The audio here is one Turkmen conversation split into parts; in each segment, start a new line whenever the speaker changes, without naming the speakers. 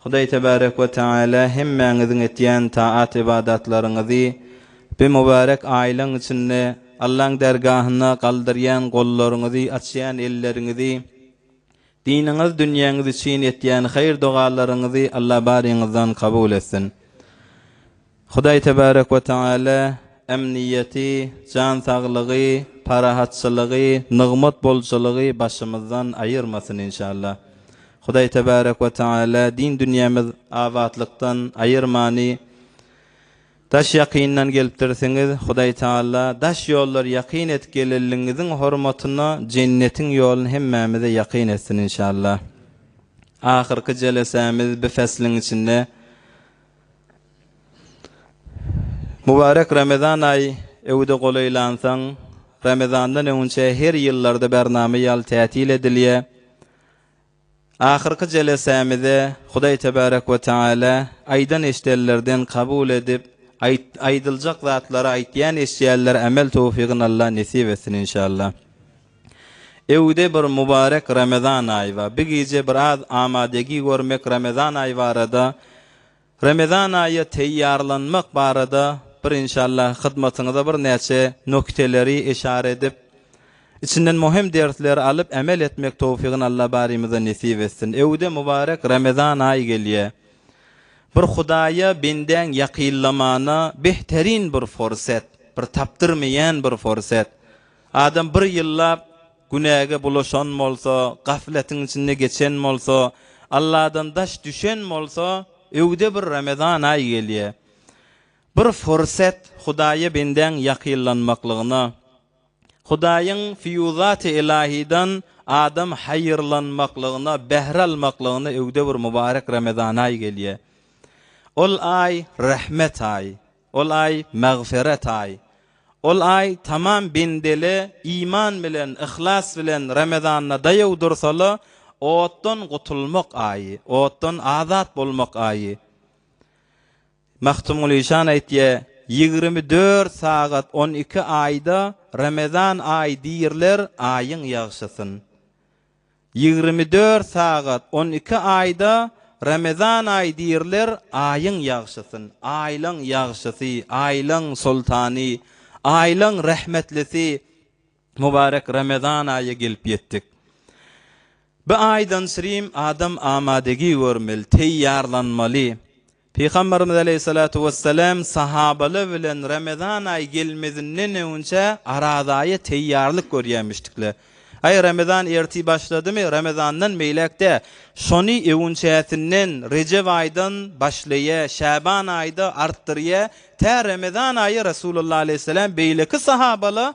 Hudaý Tebarek we Tagala hemmäňiziň etýän taat-ybadatlaryňyzy bu mübärek aýlaryň içinde Allaň dergahynda galdyrýan gollaryňyzy, açýan elleriňizi, diniňiz, dünýäňiz üçin etýän haýyr-dogalaryňyzy Alla baryňyzdan kabul etsin. Hudaý Tebärek we Tagala emniýeti, jan saglygy, parahatçylygy, nygmat bolçulygy başymyzdan aýyrmasyn inşallah. Hudaý Tebärek we Tagala din dünýämiz abatlykdan aýyrmany Daş ýakyndan gelipdirsiňiz, Hudaý Tagala daş ýollary ýakyn et gelenligiňiziň hormatyna jennetiň ýolun hemmämize ýakyn etsin inşallah. Ahyrky jelesämiz bi fäsliň içinde Mübärek Ramazan aýy öwüde golaýlansoň, Ramazandan öňünçä her ýyllarda bernama ýaly tätil edilýär. Ahyrky jelesämize Hudaý Tebärek we Teala aýdan eşdellerden kabul edip, aýt aýdyljak zatlary aýtýan eşdýänlere amel towfygyn Allah nesip etsin inşallah. Öwde bir mubarek Ramazan aýy bar. Bi gije bir az amadegi görmek Ramazan aýy barada Ramazan aýa teýýarlanmak barada bir inşallah hyzmatyňyza bir näçe nokteleri eşara edip içinden muhim dersleri alyp emel etmek towfigyny Allah barymyza nesip etsin. Öwde mubarek Ramazan aýy gelýä. Bir Hudaýa bendäň ýakynlamana behterin bir forset, bir tapdyrmyýan bir forset. Adam bir ýyllap günäge bulaşan bolsa, gafletiň içinde geçen bolsa, Alladan daş düşen bolsa, öwde bir Ramazan aýy gelýär. Bir fursat Hudaýa bendäň ýakynlanmaklygyna. Hudaýyň fiýuzat-y ylahydan adam haýyrlanmaklygyna, bähre almaklygyna öwde bir mubarek Ramazan aýy gelýär. Ol aý, rahmet aýy. Ol aý, magfyrat aýy. Ol aý tamam bendeli iman bilen, yhlas bilen Ramazanda daýaw dursala, otdan gutulmak aýy, otdan azat bolmak aýy. Magtymguly şan aýtýa, Ýigrimi dört sagat on iki aýda Ramazan aýy diýrler aýyň ýagşysyn. Ýigrimi dört sagat on iki aýda Ramazan aýy diýrler Aýyň ýagşysyn, Aýlaň ýagşysy, Aýlaň soltany, Aýlaň rahmetlisi Mubarek Ramazan aýy gelip ýetdik. Bi aýdan syrym adam amadegi görmeli, teýýarlanmaly. Pygamberimiz aleýhissalatu wessalam sahabalar bilen Ramazan aýy gelmezinden öňünçä Araz aýa teýýarlyk görýärmişdikler. Aý Ramazan ertir başladymy, Ramazandan beýläk-de, şony öňünçäsinden, Rejep aýdan, başlaýa, Şaban aýda artdyrýa, tä Ramazan aýy Resulullah aleýhissalam beýleki sahabala,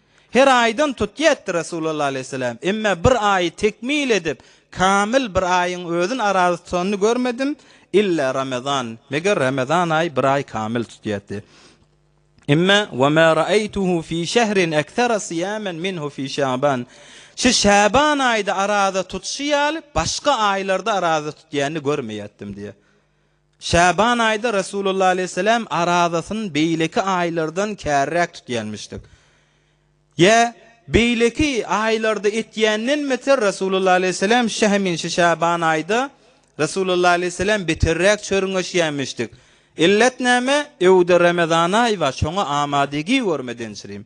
Her aýdan tutýardy Resulalla aleýhissalam, emma bir aýy tekmil edip, kamyl bir aýyň özün arazy tutanyny görmedim, illa Ramazan, meger Ramazan aýy bir aý kamyl tutýardy. Emma we ma ra'aýtuhu fi şehrin aktara siýamen minhu fi Şaban. Şu Şaban aýda araza tutuşy ýaly başga aýlarda araza tutýanyny görmeýärdim diýýär. Şaban aýda Resulullah aleýhissalam arazasyny beýleki aýlardan käriräk tutýarmyşdyk. Ýa, beýleki aýlarda etýändenmidir, Resulullah aleýhissalam şa hemin şu Şaban aýda Resulullah aleýhissalam beterräk çörňeşýärmişdik. Illet näme? Öwde Ramazan aýy bar, şoňa amadygý görmedençirim.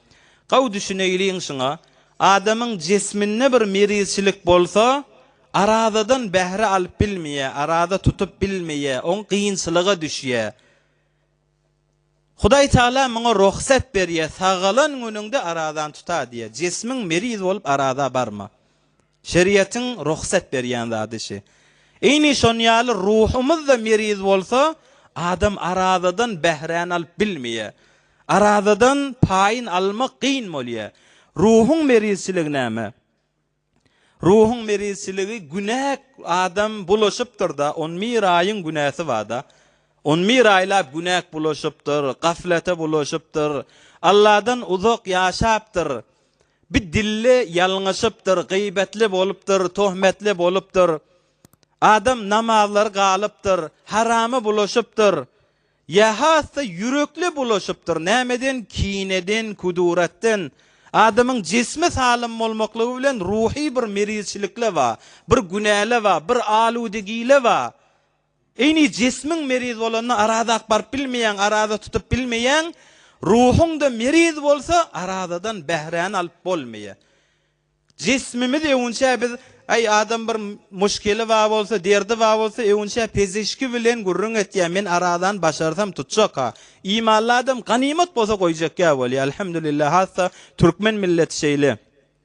Gowy düşüneýliň şuňa, adamyň jesminde bir merizçilik bolsa, arazadan bähre alyp bilmeýär, araza tutup bilmeýär, oň kynçylyga düşýär. Hudaý Tagala muňa rugsat berýär, sagalan günüňde arazany tuta diýýär. Jesmiň meriz bolup araza barma. Şeriatyň rugsat berýän zady şi. Ini şon ýaly ruhumyz da meriz bolsa adam arazadan bähräni alyp bilmeýä. Arazadan paýyn almak gyn bolýa. Ruhuň merizçiligi näme? Ruhuň merizçiligi günäk adam bulaşypdyrda on bir aýyň günäsi barda. On bir aýlap günäk bulaşypdyr, gaflete bulaşypdyr. Alladan uzak ýaşapdyr. Bir dilli ýalňyşypdyr, gybetli bolupdyr, tohmetli bolupdyr. Adam namazlary galypdyr, harama bulaşypdyr. Ýa has-da ýürekli bulaşypdyr, nämeden, kineden, kuduratdan. Adamyň jismi salym bolmaklygy bilen ruhy bir merizçilik-le bar, bir günä-le bar, bir aludegi-le bar. Ini jismiň meriz bolanda araza ak baryp bilmeýäň, araza tutup bilmeýäň, ruhuň-da meriz bolsa arazadan bähräni alyp bolmaýar. Jismimiz öwünçä biz, Aý, adam bir muşkeli bar bolsa, derdi bar bolsa, öwünçä pezişki bilen gürrüň etýär, men arazany başarsam tutjak-a. Imanly adam ganymat bolsa goýjak ýa bolýar. Alhamdulillah, hassa türkmen milleti şeýle.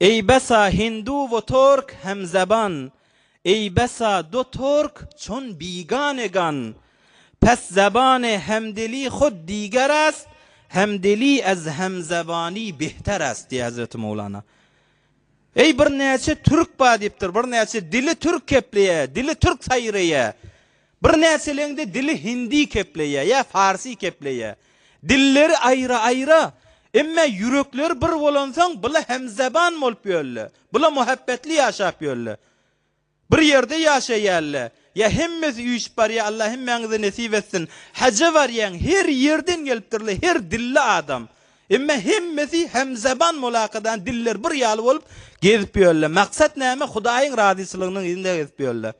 Ey besa hindu wo tork hem zaban, Ey besa do tork çon bigane gan, Pes zabane hem dili hod diger ast, Hem dili ez hem zabani behter ast diýýär Hezreti Mowlana. Eý birnäçe türk bar diýipdir, birnäçe dili türk kepleýär, dili türk saýraýar. Birnäçeleňde dili hindi kepleýär ýa farsy kepleýär. Dilleri aýra-aýra, emme ýürekleri bir bolansoň bula hemzeban bolup ýörler. Bula muhabbetli ýaşap ýörler. Bir ýerde ýaşaýarlar. Ýa hemmesi üýşüp barýar, Allah hemmäňize nesip etsin. Haja barýaň, her ýerden gelipdirler, her dilli adam. Emme hemmesi hemzeban bolakadan diller bir ýaly bolup gezip ýörler. Maksat näme? Hudaýyň razyçylygynyň yzynda gezip ýörler.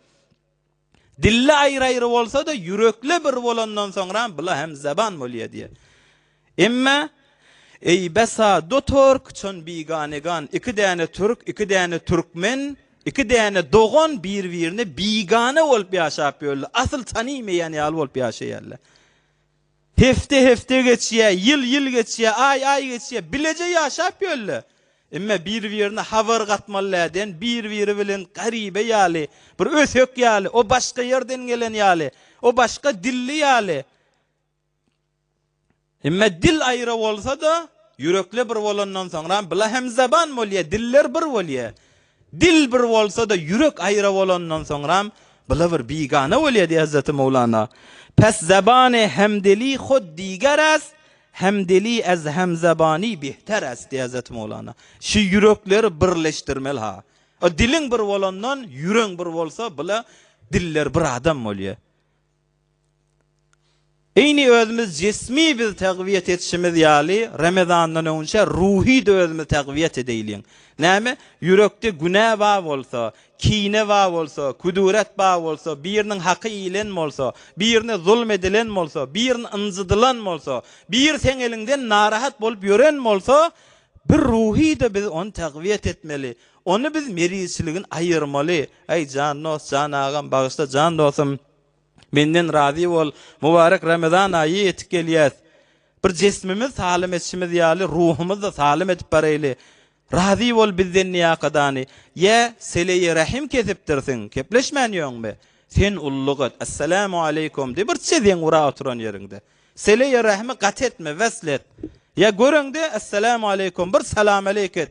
Dille aýry-aýry bolsa-da, ýürekle bir bolandan soňram bula hem zeban bolýa diýýär. Emme, Eý, besa, do tork, çon bigane gan, iki däne türk, iki däne türkmen, iki däne dogan bir-birine bigane bolup ýaşap ýörler, asyl tanymeýän ýaly bolup ýaşaýarlar. Hepde hepde geçýä, ýyl ýyl geçýä, aý aý geçýä, bileje ýaşap ýölle. Emme bir birine habar gatmalydä diýen bir biri bilen garibe ýaly, bir ösek ýaly, o başga ýerden gelen ýaly, o başga dilli ýaly. Emme dil aýra bolsada, ýürekle bir bolandan soňram bila hemzaban bolýä, diller bir bolýä. Dil bir bolsa-da, ýürek aýra bolandan soňram, byla bir bigana bolýar diýýär Hazreti Mowlana. Pes zabane hemdeli hod diger ast, hemdeli ez hemzabani bihter ast diýýär Hazreti Mowlana. Şu ýürekleri birleşdirmeli-ha. Diliň bir bolandan, ýüregiň bir bolsa, byla diller bir adam bolýar. Eýni özümiz jismi biz tagwiýet etişimiz ýaly, Ramazandan öňünçä ruhy-da özümiz tagwiýet edeýliň. Näme? Ýürekde günä bar bolsa, kine bar bolsa, küdüret bar bolsa, biriniň haky iýilen bolsa, birine zulum edilen bolsa, birini ynjydylan bolsa, biri seň eliňden narahat bolup ýören bolsa, bir ruhy-da biz ony tagwiýet etmeli. Ony biz merizçiligin aýyrmaly. Aý, jan dost, jan agam, bagyşla, jan dostum, menden razy bol, mubarek Ramazan aýy ýetip gelýär. Bir jesmimiz salym edişimiz ýaly, ruhumyz-da salym edip bareýli. Razy bol bizden niýakadany. Ýa seleýi rahim kesipdirsiň, kepleşmän ýöňmi? Sen ulluk et, Assalamu aleýkum diý, bir çeziň ura oturan ýeriňde. Seleýi rahimi gaty etme, wesl et. Ýa göreňde, Assalamu aleýkum, bir salam aleýk et.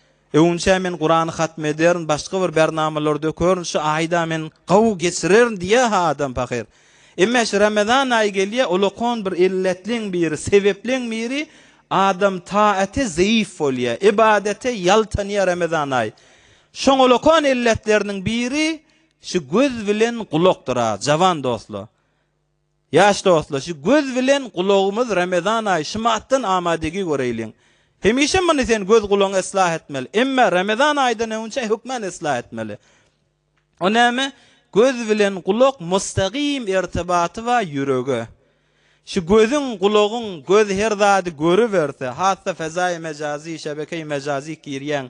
Öňinçä men Kurany hatm ederin başga bir bernamalar dökerin şu aýda men gowy geçirerin diýýä ha adam pahyr. Emme şu Ramazan aýy gelýä ulakon bir illetliň biri sebepleň biri adam taate zeýif bolýa ibadete ýaltanýa Ramazan aýy. Şoň ulakon illetleriniň biri şu göz bilen gulakdyr a jawan dostlar. Ýaş dostlar şu göz bilen gulagymyz Ramazan aýy şymatdan amadegi göreýliň. Hemişe muny sen göz gulagyňy eslah etmeli. Emme Ramazan aýydan öňçe hökman eslah etmeli. O näme? Göz bilen gulak mustagym ertibaty bar ýürege. Şu gözüň, gulagyň, göz her zady görüberse, hassa fezaýy mejazy, şebekeýi mejazy girýäň.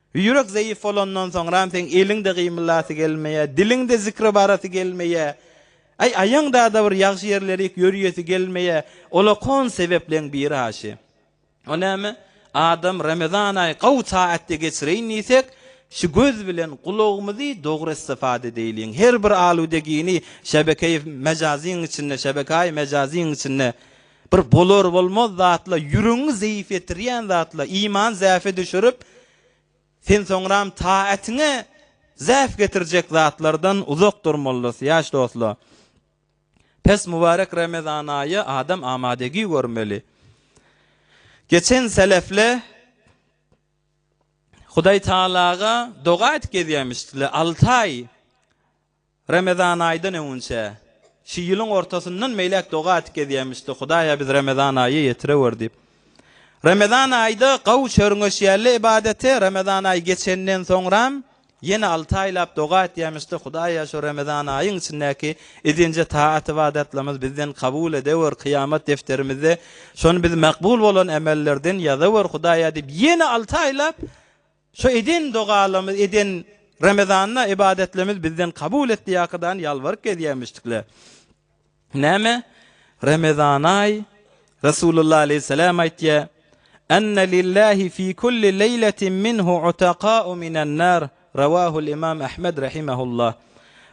Ýürek zeýif bolandan soňram seň eliň-de gymyldasy gelmeýär, diliň-de zikre barasy gelmeýär. Aý, aýaňda-da bir ýagşy ýerlerik ýörýesi gelmeýär. Ol-a kon sebepleň biri haşy. O näme? Adam Ramazan aýy gowy taatda geçireýin diýsek, şu göz bilen gulagymyzy dogry istifade edeýliň. Her bir aludegini şebekeýi mejazyň içinde, şebekäýi mejazyň içinde, Bir bolar-bolmaz zatla, ýüregiňi zeýif etirýän zatla iman zäfe düşürip, sen soňram taýatyňa zäf getirjek zatlardan uzak durmalys, ýaş dostlar. Pes mübarek Remezan aýy adam amadegi görmeli. Geçen selefle Hudaýtagalaga doga edip gezýämişdiler, alty aý Ramazanaýdan öňünçä, şu ýylyň ortasyndan beýläk doga atyp gezýämişdi, Hudaý-a biz Ramazan aýy ýetirewer diýip. Ramazan aýda gaw çörňeş ýäli ybadaty Ramazan aýy geçenden soňram ýene alty aýlap doga atýamişdi, Hudaý-a şu Ramazan aýyň içindäki edinje taat-ybadatlarymyz bizden kabul edewer, kyýamat defterimizde şony biz makbul bolan emellerden ýazawer, Hudaý-a diýip ýene alty aýlap Şu eden dogalarymyz eden Ramazanda ybadatlarymyz bizden kabul et diýip Akydan ýalbaryp gezýämişdikler. Näme? Ramazanaý Resulullah aleýhissalam aýtýa, Anna lillahi fi kulli leýletin minhu utaqau minan nar, Rawahul Imam Ahmed rahimehullah.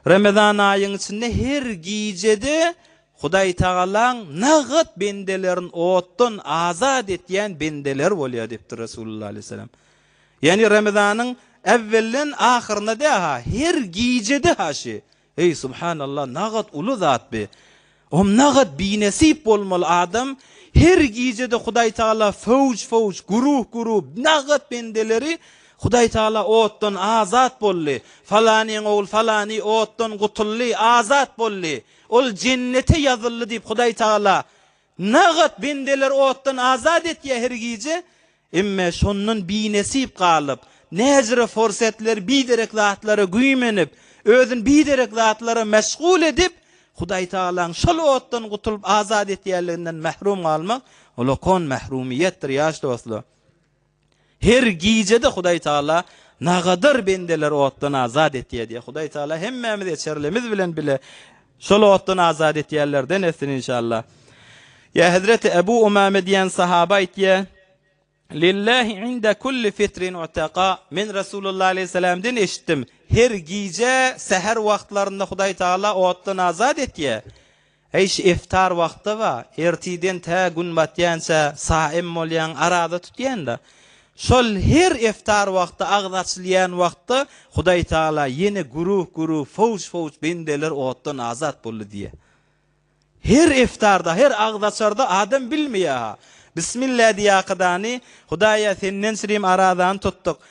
Ramazan aýyň içinde her gijede Hudaýtagalaň nagt bendelerin otdan azat etýän bendeler bolýar diýipdir Resulullah aleyhisselam. Ýagny Ramazanyň äwwelden ahyryna däha her gijede haşy. Eý subhanallah nagt uly zat bi. Om nagt binesip bolmaly adam her gijede Hudaýtagala fowj fowj guruh guruh nagt bendeleri Hudaýtagala otdan azat boldy. Falanyň ogly falany otdan gutuldy, azat boldy. Ol jennete ýazyldy diýip Hudaý Tagala nagat bendeleri otdan azat etýär her gije, emme şondan binesip galyp, näjire forsetleri biderek zatlara güýmenip, özüni biderek zatlara meşgul edip, Hudaý Tagalaň şol otdan gutulyp azat etýänliginden mährum galmak, ol okon mährumiýetdir ýaş dostlar. Her gijede Hudaý Taala nagadar bendeleri otdan azat etýär diýýär. Hudaý Taala hemmämiz eçerlimiz bilen bile şol otdan azat etýänlerden etsin inşallah. Ýa Hezreti Ebu Umame diýen sahaba aýtýar, Lillahi inde kulli fitrin utaka. Men Resulullah aleyhisselamdan eşitdim. Her gije säher wagtlarynda Hudaý Taala otdan azat etýär. Eýş iftar wagty ba, ertiden tä gün batýança saim bolýan, araza tutýan-da. Şol her iftar wagty agyz açylýan wagtda Hudaý Tagala ýene güruh-güruh, fowç-fowç bendeler otdan azat boldy diýýär. Her iftarda, her agyz açarda adam bilmeýär-ha. Bismillah diýýär akydany, Hudaý-a, Senden syrym arazany tutduk.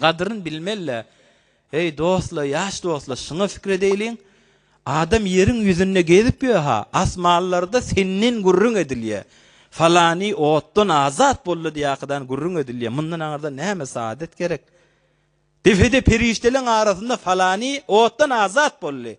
Gadryn bilmelle. Eý dostlar ýaş dostlar şyna fikir edeýliň adam ýeriň ýüzünde gezip ýöha asmanlarda senden gürrüň edilýä falany otdan azat boldy diýakydan gürrüň edilýä mundan aňyrda näme saadet gerek depede perişdeleň arasynda falany otdan azat boldy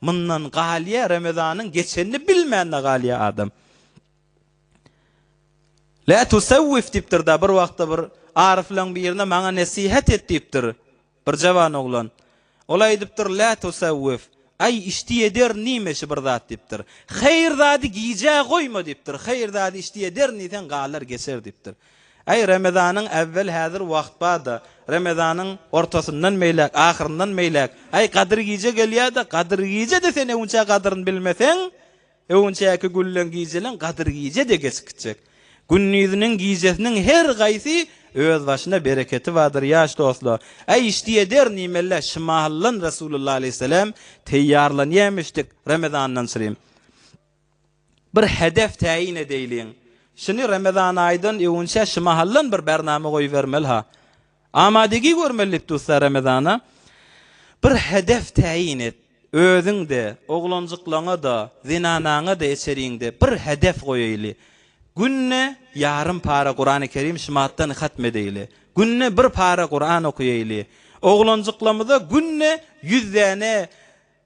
Mundan galýa Ramazanyň geçenini bilmände galýa adam. La tusawwif diýipdir da bir wagtda bir aryflaň birine maňa nesihat et diýipdir. Bir jawan oglan. Ol aýdypdyr la tusawwif. Aý işdi eder nime şi bir zat diýipdir. Haýyr zady gijä goýma diýipdir. Haýyr zady işdi eder ni sen galar geçer diýipdir. Aý, Remezanyň äwwel häzir wagt bar-da, Remezanyň ortasyndan meýläk, ahyryndan meýläk, aý, Gadyr gije gelýär-de, Gadyr gije-de sen öňçä gadyryny bilmeseň, öňçäki gülleň gijeleň Gadyr gije-de geçip gitjek. Gündiziniň, gijesiniň her gaýsy özbaşyna bereketi bardyr, ýaş dostlar. Aý, işdi eder, nimelle, şymahallan Resulullah aleýhisselam teýýarlanýarmyşdyk Remezandan syrym. Bir hedef täýin edeýliň. Şuny Remezan aýdan öwünçä şu mahaldan bir bernama goýbermeli-ha. Amadygý görmeli diýip dussa Remezana bir hedef täýin et. Özüň-de, oglanjyklaňa-da, zenanaňa-da eçeriňde bir hedef goýaýly. Günde ýarym para Kurany Kerim şymatdan hatm edeýli. Günde bir para Kuran okaýaýly. Oglanjyklamyza günde ýüz däne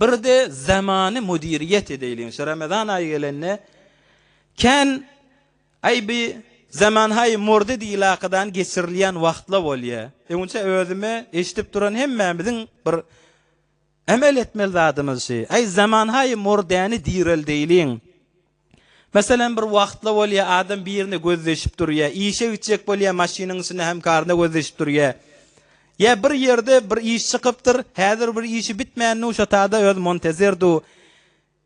Birde zamany müdiriýet edeýliň şu Ramazan aýy gelende kän aý bi zaman haý mordy diýilakadan geçirilýän wagtla bolýa. Öňüçe özüme eşdip duran hemmämiziň bir emel etmeli zadymyz şi aý zaman haý mordäni direldeýliň. Meselem, bir wagtla bolýar, adam birine gözleşip durýar, işe gitjek bolýar, maşynyň içinde hemkaryna gözleşip durýar. Ýa bir ýerde bir iş çykypdyr, häzir bir işi bitmändiu şotada öz montezirdiu.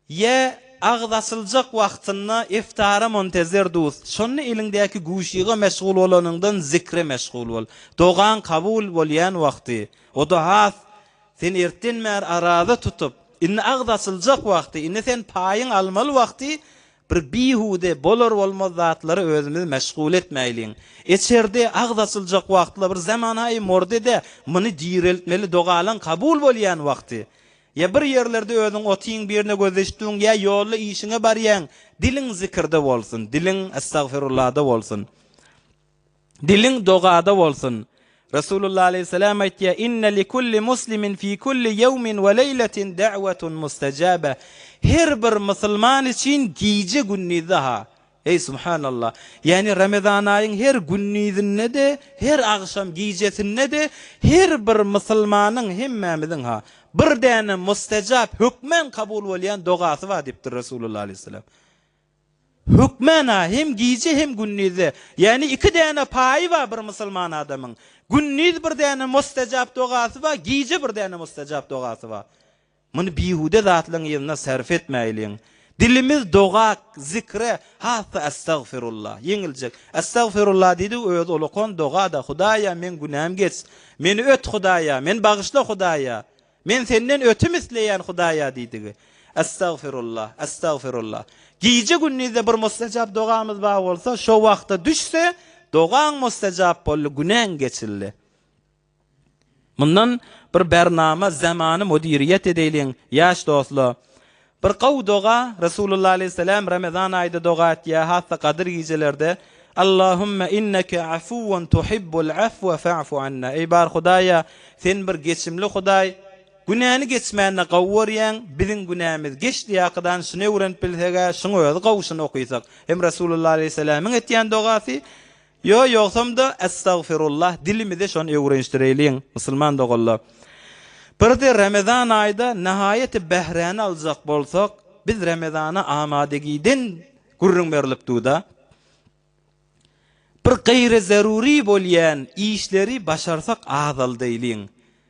Ýa agyz açyljak wagtynda iftara montezirdius. Şonda eliňdäki guşyga meşgul bolanyňdan zikre meşgul bol. Dogaň kabul bolýan wagty, o-da has Sen ertden bäri araza tutup, indi agzy açyljak wagty, indi sen paýyňy almaly wagty, bir bihude, bolar-bolmaz zatlara özümizi meşgul etmäýliň. Eçerde, agzy açyljak wagtla bir zamanaýy mordede muny direltmeli dogalaň kabul bolýan wagty. Ýa bir ýerlerde özüň otyň birine gözleşdiň, ýa ýolda işiňe barýaň, diliň zikirde bolsun, diliň estagfirullada bolsun. Diliň dogada bolsun. Resulullah aleýhissalam aýtýar, Inne li kulli muslimin fi kulli ýewmin we leýletin da'watun mustajaba. Her bir musulman üçin gije-gündizde-ha, eý subhanallah, ýagny Ramazan aýyň her gündizinde-de, her agşam gijesinde-de her bir musulmanyň, hemmämiziň-ha, bir däne mustajap, hökman kabul bolýan dogasy bar diýipdir Resulullah aleýhissalam. Hökmana hem gije hem gündizde, ýagny iki däne paýy bar bir musulman adamyň, gündiz bir däne mustajap dogasy bar, gije bir däne mustajap dogasy bar. Muny bihuda zatlaryň yzyna sarf etmäýliň. Dilimiz doga, zikre, has-da Astagfirullah, ýeňiljek. Astagfirullah diýdik, özi ulakan doga-da, Hudaýa, meň günämi geç, meni öt, Hudaýa, meni bagyşla, Hudaýa. Men senden ötüm isleýän Hudaýa diýdigi. Estagfirullah, estagfirullah. Gije-gündizde bir mustajap dogamyz bar bolsa, şo wagta düşse, dogaň mustajap boldy, günäň geçildi. Mundan bir bernama Zamany müdiriýet edeýliň, ýaş dostlar. Bir gowy doga, Resulullah aleýhissalam Ramazan aýda doga etýär, hassa gadyr gijelerde, Allahümme inneke afuwun tuhibbul afwa fa'fu anna, Eý bar Hudaýa, Sen bir geçimli Hudaý, günäni geçmäni gowy görýäň, biziň günämiz geçdi ýakydan şuny öwrenip bilseg-ä, şuň özi gowy şuny okysak. Hem Resulullah aleýhissalamyň etýän dogasy, Ýo ýogsam-da Estagfirullah dilimizi şon öwrenişdireýliň musulman doganlar. Birde Ramazan aýda nahaýaty bähräni aljak bolsak biz Ramazana amadagiden gürrüň berlip duda. Bir gaýry zaruri bolýan işleri başarsak azaldaýlyň.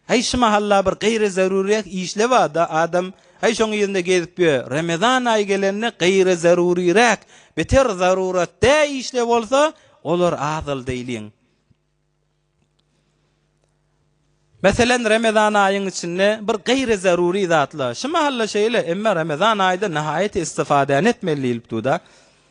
Häý şu mahalla bir gaýry zeruryrek işle bada adam häý şoň yzynda gezip ýö remezan aýy gelende gaýry zeruryrek beter zarurat dä işle bolsa olar azaldy iliň Meselen remezan aýyň içinde bir gaýry zerury zatla şu mahalla şeýle emma remezan aýyda nahaýaty istifadäni etmeli diýilip duda.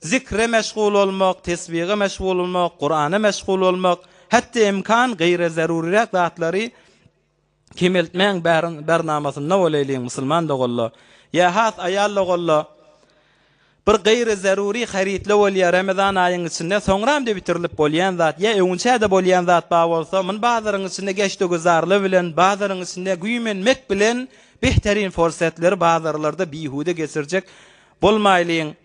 Zikre meşgul bolmak, tesbihe meşgul bolmak, Kurana meşgul bolmak, hetde imkan gyra zeruryrak zatlary kemeltmäň bernamasynda bolaýlyň musulman doganla, ya has aýal doganla bir gyra zerury harytla bolýa Ramazan aýyň içinde soňram de bitirilip bolýan zat ya öňinçä de bolýan zat bar bolsa muny bazaryň içinde geçde güzarly bilen bazaryň içinde güýmenmek bilen behterin forsatleri bazarlarda bihuda geçirjek bolmaýlyň.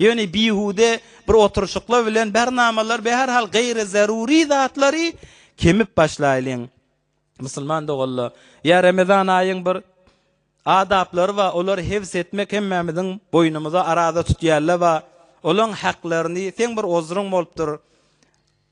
Ýöne bihude bir oturyşyklar bilen bär namalar we her hal gaýry zarury zatlary kemip başlaýlyň. Musulman doganlar, ýa Ramazan aýyň bir adaplary bar, olary hifz etmek hemmämiziň boýnumyza, araza tutýarlar bar, olaň haklaryny, seň bir ozryň bolupdyr,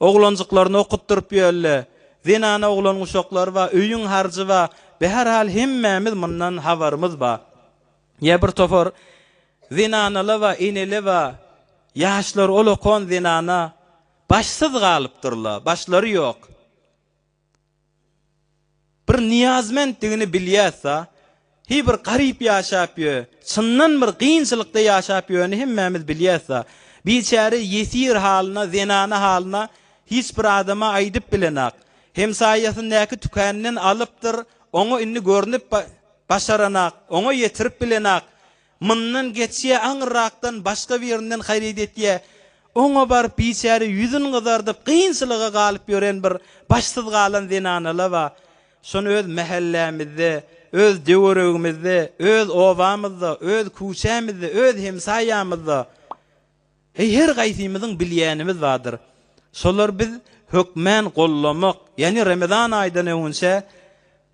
Oglanjyklaryny okutdyryp ýölle. Zenana oglan guşaklary bar, öýüň harjy bar. Bi her hal hemmämiz mundan habarymyz bar. Ýa bir topar zenanala bar, enele bar. Ýaşlar ol okan zenana başsyz galypdyrla, başlary ýok. Bir niýazmentdigini bilýäs-a. Hi bir garyp ýaşap ýö. Çyndan bir gynçylykda ýaşap ýöni hemmämiz bilýäs-a. Biçäre ýesir halyna, zenana halyna hiç bir adama aýdyp bilenak. Hemsaýasyndaky tükäniden alypdyr, oňa indi görnüp başaranak, oňa ýetirip bilenak. Mundan geçýä aňyrrakdan başga birinden haryt etýä. Oňa baryp biçäre ýüzün gyzardyp kynçylyga galyp ýören bir başsyz galan zenanala ba. Şony öz mähellämizde, öz töweregimizde, öz obamyzda, öz küçämizde, öz hemsaýamyzda heý her gaýsymyzyň bilýänimiz badyr. Şolar biz hökmän gollamak, ýany Ramazan aýdan öňünçä,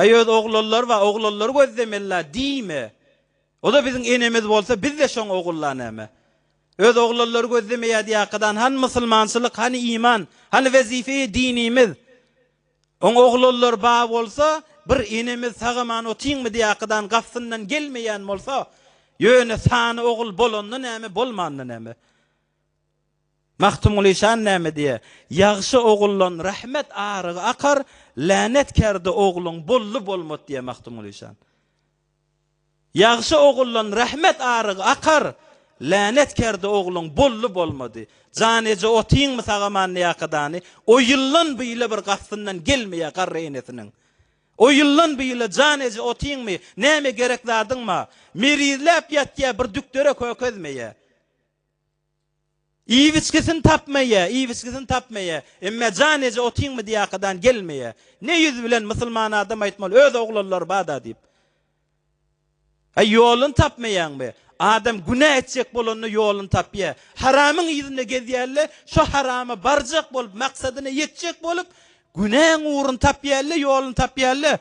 Aý öz ogullar bar ogullar gözlemella diýme oda biziň enemiz bolsa bizde şoň ogulla näme öz ogullar gözlemeýä diýäkadan hany musulmançylyk hany iman hany wezifeýi dinimiz oň ogullar ba bolsa bir enemiz sagaman otyňmy diýäkadan gafsyndan gelmeýän bolsa ýöne sany ogul bolanda näme bolmanda näme. Magtymguly şan näme diýýär? Ýagşy oguldan rahmet arygy akar, länetkärde ogluň boldy bolmat diýýär Magtymguly şan. Ýagşy oguldan rahmet arygy akar, länetkärde ogluň boldy bolmady. Jan eje otyňmy sagamanlyýaka dany? O ýyldan bu ýyla bir gastyndan gelmeýär garry enesiniň. O ýyldan bu ýyla jan eje otyňmy, näme gerek zadyňma? Merizläp ýatýar bir dükdere kökezmeýär. Iwiçkisini tapmaýa, iwiçkisini tapmaýa. Emmä jan eje otyň bidiýakadan gelmeýä. Ne ýüz bilen musulman adam aýtmaly, öz oglanlary bar-da diýip. Aý, ýoluny tapmaýaňmy? Adam günä etjek bolanda ýoluny tapýa. Haramyň yzynda gezýä-le, şo harama barjak bolup, maksadyna ýetjek bolup, günäň ugruny tapýa-le, ýoluny tapýa-le.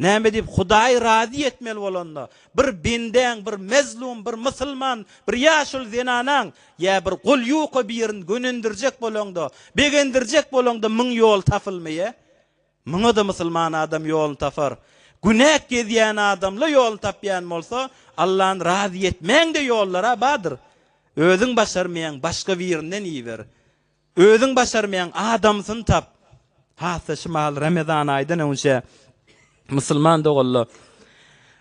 Näme diýip Hudaýy razy etmeli bolanda, bir bendäň, bir mezlum, bir musulman, bir ýaşuly zenanaň ýa bir gul ýuka birini gönendirjek bolaňda, begendirjek bolaňda müň ýol tapylmaýa? Muňa-da musulman adam ýoluny tapar. Günäk gezýän adamla ýoluny tapýan bolsa, Allany razy etmäň-de ýollar-a bardyr. Özüň başarmaýaň, başga birinden iýiber. Özüň başarmaýan adamsyny tap. Hassa şumal Ramazan aýdan öňçe musulman doganlar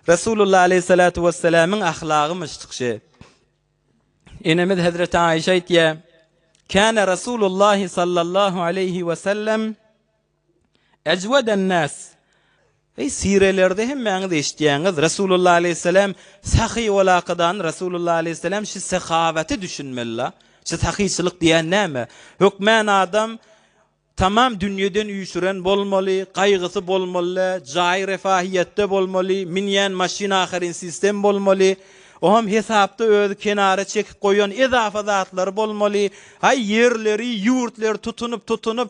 Resulullah aleýhissalatu wesselamyň ahlagymyş çykyşy. Enemiz Hezreti Aişe aýtýar, Kana Resulullah sallallahu aleýhi wesellem Ejwedennas, Eý, sirelerde hemmäňiz eşitýäňiz, Resulullah aleýhisselam, Sahy ol hakydany Resulullah aleýhisselam şu sehawaty düşünmeli-la. Şu sahyçylyk diýýän näme? Hökmän adam tamam dünýeden üýşüren bolmaly, gaýgysy bolmaly-la, jaýy refahyýetde bolmaly, münýän maşyny ahyryn sistem bolmaly, oňam hesapda özi kenara çekip goýan edafa zatlary bolmaly, haý ýerleri, ýurtleri tutunyp-tutunyp,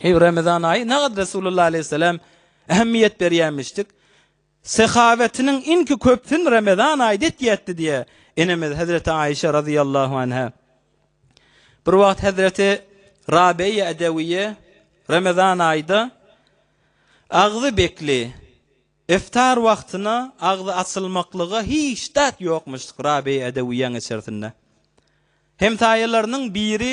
Eý, Remezan aýy nähak Resulullah aleýhisselam ähmiýet berýämişdik. Sehawetiniň iňki köpsün Remezan aýda etýätdi diýe. Enemiz Hazreti Aişe razyýallahu anha. Bir wagt Hazreti Rabeýe Edewiýe Remezan aýda agzy bekli, iftar wagtyna agzy açylmaklyga hiç zat ýokmuşdyk Rabeýe Edewiýäň içersinde. Hemsaýalarynyň biri.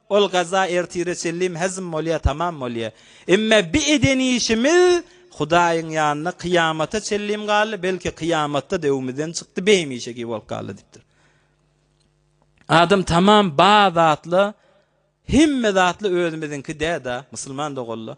Ol gaza ertire çenlim hezm bolýa tamam bolýa. Emme bi eden işimiz Hudaýyň ýanynda kyýamata çenlim galdy, belki kyýamatda döwümizden çykdy bi hemişeki bolup galdy dipdir. Adam tamam ba zatla hemme zatla özümiziňki dä da, musulman doganla.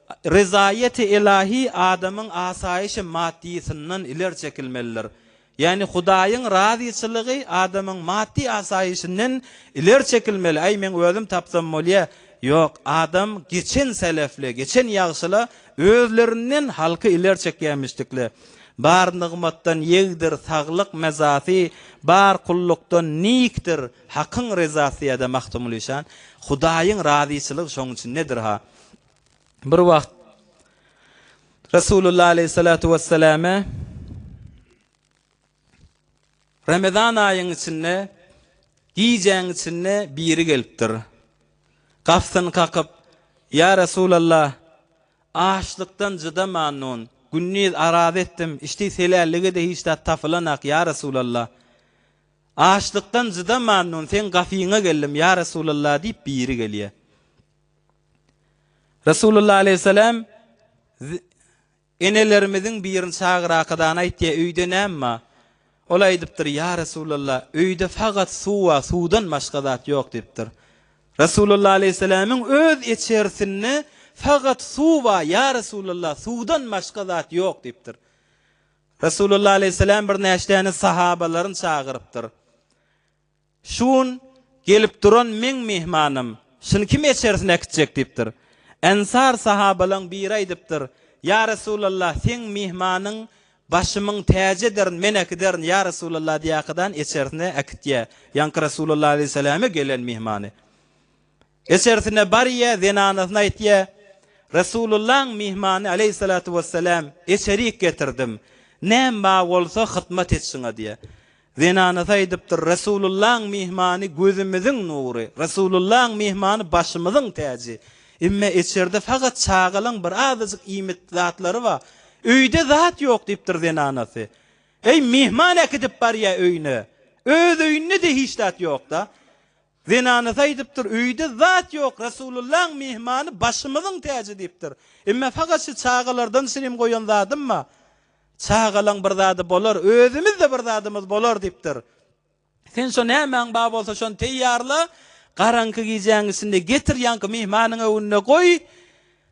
Ryzaýeti ylahi adamyň asaýyşy maddysyndan ileri çekilmelidir. Ýagny Hudaýyň razyçylygy adamyň maddy asaýyşynden ileri çekilmeli, Aý, meň özüm tapsam bolýa. Ýok, adam geçen selefli, geçen ýagşyla özlerinden halky ileri çekýämişdikle. Bar nygmatdan ýegdir, saglyk mezasy, bar kullukdan nikdir, Hakyň ryzasy ýa-da Magtymguly şan. Hudaýyň razyçylygy şoň üçin nedir-ha? Bir wagt Resulullah aleýhissalatu wesselame Ramazan aýyň içinde gijäň içinde biri gelipdir. Gafsyny kakyp, Ýa Resulallah, açlykdan jydamannon, gündiz araz etdim, içdi selällige-de hiç zat tapylanak, ýa Resulallah. Açlykdan jydamannon seň gafyňa geldim, ýa Resulallah diýip biri gelýär. Resulullah aleyhisselam enelerimiziň birini çagyrakadany aýtýar, öýde näme bar? Ol aýdypdyr, ýa Resulullah, öýde fakat suw bar, suwdan başga zat ýok diýipdir. Resulullah aleyhisselamyň öz içersinde fakat suw bar, ýa Resulullah, suwdan başga zat ýok diýipdir. Resulullah aleyhisselam birnäçdäni sahabalaryny çagyrypdyr. Şu gün gelip duran meň myhmanym, şuny kim eçerisine äkitjek? diýipdir. Ensar sahabalaň biri aýdypdyr, Ýa Resulallah, seň myhmanyň başymyň täjidir, men äkiderin, ýa Resulallah diýýärkadan eçerisine äkitýä, ýaňky Resulallah aleýhissalame gelen myhmany. Eçersine barýa zenanasyna aýtýa, Resulullaň myhmany aleýhissalatu wessalam eçerik getirdim, näm ba bolsa hytmat etsin adyýa. Zenanasy aýdypdyr, Resulullaň myhmany gözümiziň nury, Resulullaň myhmany başymyzyň täji, emme eçerde fagat çagalaň bir azajyk iýmit zatlary ba, öýde zat ýok diýipdir zenanasy. Eý myhman äkidip barýa öýüne, öz öýünde-de hiç zat ýokda. Zenanasy aýdypdyr, Öýde zat ýok, Resulullahyň myhmany başymyzyň täji diýipdir. Emme fakat şu çagalardan şirin goýan zadym-a, Çagalaň bir zady bolar, özümiz-de bir zadymyz bolar diýipdir. Sen şo nämäň bar bolsa şony teýýarla, garaňky gijäň içinde getir ýaňky myhmanyň öňünde goý.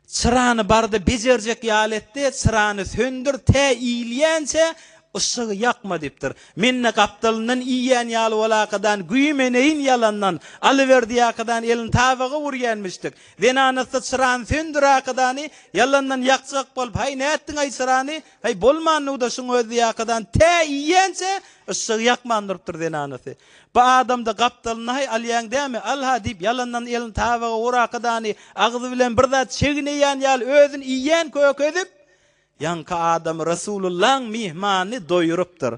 Çyrany barda bejerjek ýaly etdi, Çyrany söndür, tä iýilýänçä yşygy ýakma diýipdir. Men-de gapdalyndan iýýän ýaly bolakadan güýmeneýin ýalandan. Alyberdiýakadan elini tabaga urýanmişdik. Zenanasy çyrany söndürakadany ýalandan ýakjak bolup, Haý, nätdiň-aý çyrany? Haý, bolmandygy-da şuň özdiýakadan, tä iýýänçä yşygy ýakman durupdyr zenanasy. By adamda gapdalyny-haý alýaň dämi, al-ha diýip, ýalandan elini tabaga uraka dany, agzy bilen bir zat çegneýän ýaly özüni iýen köki edip, ýaňky adamy Resulullaň myhmany doýurypdyr.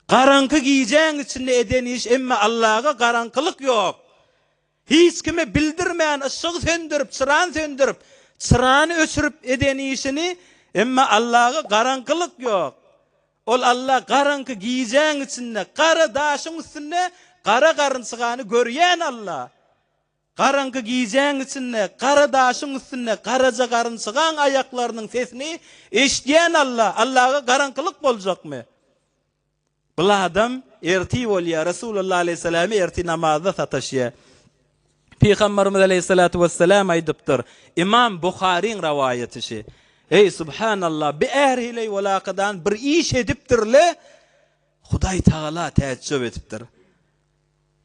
Garaňky gijäň içinde eden iş emma Allaga garaňkylyk ýok. Hiç kime bildirmän yşygy söndürip, çyrany söndürip, çyrany öçürip eden işini emma Allaga garaňkylyk ýok. Ol Alla garaňky gijäň içinde gara daşyň üstünde gara garynçygany görýän Alla. Garaňky gijäň içinde gara daşyň üstünde garaja garynçygaň aýaklarynyň sesini eşidýän Alla. Allaga garaňkylyk boljakmy? Bul adam ertir bolýar, Resulallah alaýhyssalamy ertir namazda sataşýar. Pygamberimiz aleýhissalatu wessalam aýdypdyr, Imam Buharyň rawaýat işi, Eý, subhanallah, bi är hileý walakadan bir iş edipdir-le, Hudaý tagala täjjüp edipdir.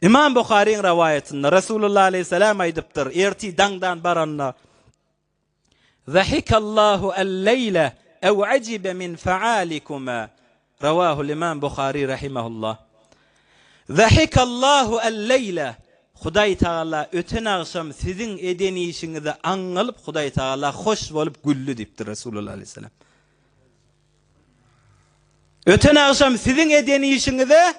Imam Buharyň rawaýatynda Resulullah aleýhissalam aýdypdyr, Ertir daňdan baranda, Zahikallahu al-leýle ew ajibe min fe'alikuma, Rawahul imam Buhari rahimehullah. Zahikallahu al-leýle, Hudaý Tagala öten agşam siziň eden işiňizi aňňalyp Hudaý Tagala hoş bolup güldi diýipdir Resulullah aleyhisselam. Öten agşam siziň eden işiňize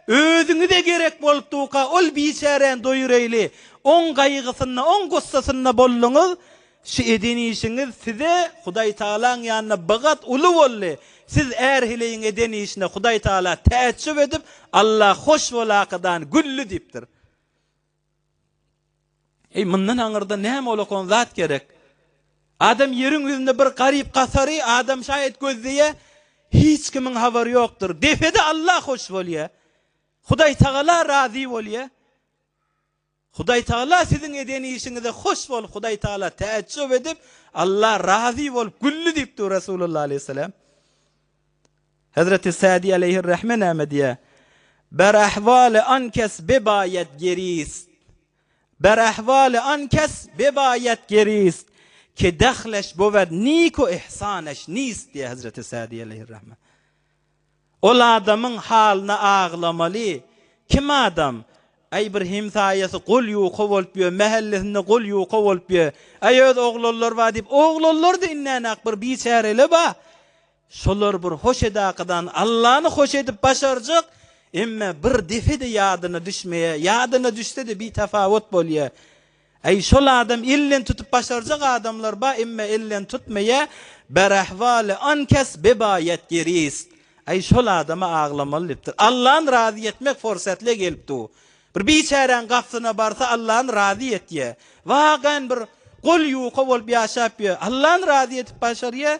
özüňize gerek bolupdyka ol biçäräni doýureýli oň gaýgysynda oň gussasynda bolduňyz şu eden işiňiz size Hudaýtagalaň ýanynda bigat uly boldy siz är heleýiň eden işine Hudaýtagala täjjüp edip Alla hoş bolakydan gülli diýipdir. Eý, mundan aňyrda näme olakan zat gerek? Adam ýeriň ýüzünde bir garyp-gasary adam şaýat gözleýä, hiç kimiň habary ýokdur. Depede Allah hoş bolýa. Hudaýtagala razy bolýa. Hudaýtagala siziň eden işiňize hoş bolup, Hudaýtagala täjjüp edip, Allah razy bolup güldi diýipdir Resulullah aleyhisselam. Hezreti Sadi aleýhir rahme näme diýýär? Ber ahwaly an kes bebaýat gerist. Ber ahwaly an kes bebaýat gerist, Ke dahleş bowed niko ihsaneş nist diýýär Hezreti Sadi aleýhir rahme. Ol adamyň halyna aglamaly. Kim adam? Äý bir hemsaýasy gol ýuka bolup ýör, mähellesinde gol ýuka bolup ýör. Äý öz oglanlary bar diýip, oglanlary-da indänäk bir biçärele bar. Şolar bir hoş edakadan Allany hoş edip başarjak, emme bir depe-de ýadyna düşmeýär, ýadyna düşse-de bitafawut bolýar. Äý şol adam elden tutup başarjak adamlar bar, emme elden tutmaýar, Berahwali ankes bebaýat gerist. Äý şol adama aglamaly dipdir. Allany razy etmek forsatly gelip dur. Bir biçäräň gapsyna barsa Allany razy etýär. Wagan bir gol ýuka bolup ýaşap ýör. Allany razy edip başarýar.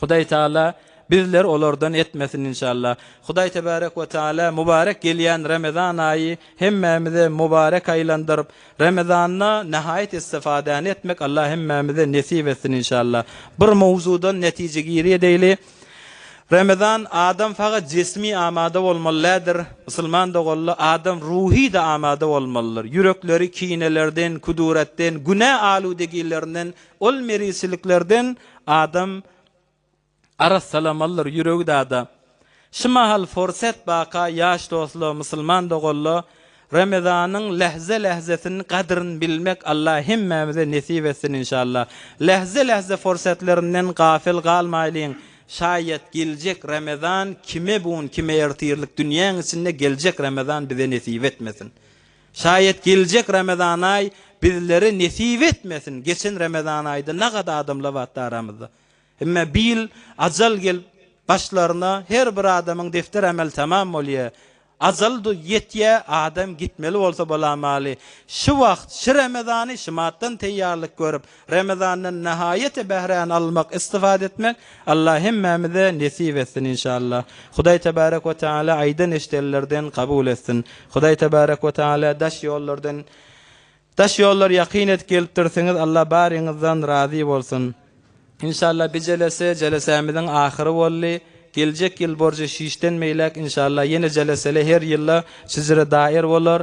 Hudaý Taala bizleri olardan etmesin inşallah. Hudaý Tebarek we Taala mubarek gelýän Ramazan aýy hemmämize mubarek aýlandyryp, Ramazanda nähaýat istifadäni etmek Allah hemmämize nesip etsin inşallah. Bir mowzudan netije giri edeýli. Ramazan adam fagat jesmi amada bolmaly lädir, musulman doganla adam ruhy-da amada bolmalydyr. Ýürekleri kinelerden, küduratden, günä aludegilerinden Ol meriçiliklerden adam arassalamalydyr, ýüregi dada. Şu mahal forset baka ýaş dostla, musulman doganla Remezanyň lähze-lähzesini gadryn bilmek Allah hemmämize nesip etsin inşallah. Lähze-lähze forsetlerinden gafel galmaýlyň, şaýat geljek Remezan kime bun kime ertirlik dünýäň içinde geljek Remezan bize nesip etmesin. Şaýat geljek Ramazanaý bizlere nesip etmesin, geçen Ramazanaýda nagada adamlar batdy aramyzda. Emme bi ýyl ajal gelip başlaryna her bir adamyň defter ameli tamam bolýa. Ajal ýetýä adam gitmeli bolsa bolamaly. Şy wagt, şy Ramazany şymatdan teýýarlyk görüp, Ramazandan nahaýaty bähräni almak, istifade etmek Allah hemmämize nesip etsin inşallah. Hudaý tebarek we taala aýdan eşidenlerden kabul etsin. Hudaý tebarek we taala daş ýollardan daş ýollar ýakyn edip gelipdirsiňiz Allah baryňyzdan razy bolsun. Inşallah bi jelese jelesämiziň ahyry boldy. Geljek ýyl borjy şişden beýläk inşallah ýene jelesele her ýylla şjre dair bolar.